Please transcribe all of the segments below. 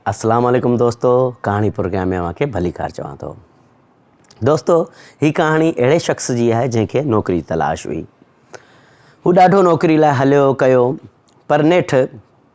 السلام عليڪم دوستو ڪهاڻي پروگرام ۾ اوهان کي ڀلي ڪار چوان ٿو دوستو هي ڪهاڻي اهڙي شخص جي آهي جنهن کي نوڪري تلاش هئي هو ڏاڍو نوڪري لاء هليو ڪيو پر نيٺ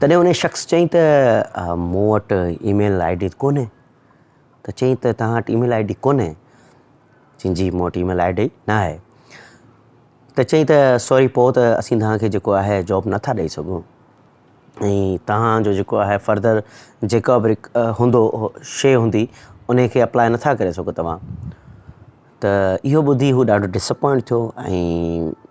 تڏهن انهيء شخص چيائين ته مون وٽ اي ميل آئي ڊي ڪونهي ته چيائين ته توهان وٽ اي ميل آئي ڊي ڪونهي چيائين جي مون وٽ اي ميل آئي ڊي نه آهي ته چيائين ته سوري پوء ته اسين توهان کي جيڪو آهي جاب نه ٿا ڏئي سگهون ۽ توهان جو جيڪو آهي فردر جيڪا به هوندو شيء هوندي انهيء کي اپلاء نه ٿا ڪري سگهو توهان ته اهو ٻڌي هو ڏاڍو ڊسپوائنٽ ٿيو ۽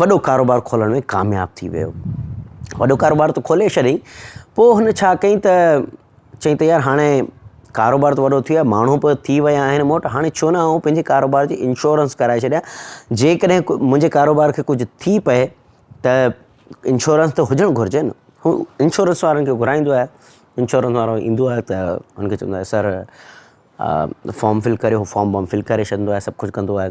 وڏو ڪاروبار کولڻ ۾ ڪامياب ٿي ويو. وڏو ڪاروبار ته کولي ڇڏيائين، پوء هن ڇا ڪيائين ته چيائين ته يار هاڻي ڪاروبار ته وڏو ٿي ويو آهي، ماڻهو به ٿي ويا آهن مون وٽ، هاڻي ڇو نه آئون پنهنجي ڪاروبار جي انشورنس ڪرائي ڇڏيان، جيڪڏهن منهنجي ڪاروبار کي ڪجهه ٿي پئي ته انشورنس ته هجڻ گهرجي نه. هو انشورنس وارن کي گهرائيندو آهي، انشورنس وارو ايندو آهي ته هن کي چوندو آهي سر فارم فل ڪريو، هو فارم وارم فل ڪري ڇڏيندو آهي، سڀ ڪجهه ڪندو آهي.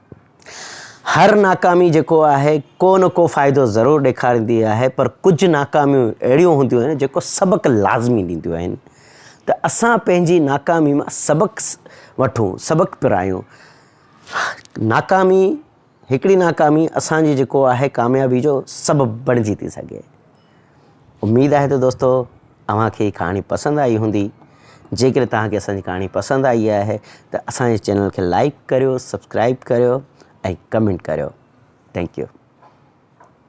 هر ناڪامي جيڪو آهي ڪو نه ڪو فائدو ضرور ڏيکاريندي آهي پر ڪجهه ناڪاميون اهڙيون هونديون آهن جيڪو سبق لازمي ڏينديون آهن ته اسان پنهنجي ناڪامي مان سبق وٺون سبق پرايون ناڪامي هڪڙي ناڪامي اسانجي جيڪو آهي ڪاميابي جو سبب بڻجي ٿي سگهي اميد آهي ته دوستو اوهان کي هي ڪهاڻي پسند آئي هوندي جيڪڏهن توهان کي اسان جي ڪهاڻي پسند آئي آهي ته اسان جي چينل کي لائڪ ڪريو سبسڪرائب ڪريو ۽ ڪمينٽ ڪريو ٿينڪ يو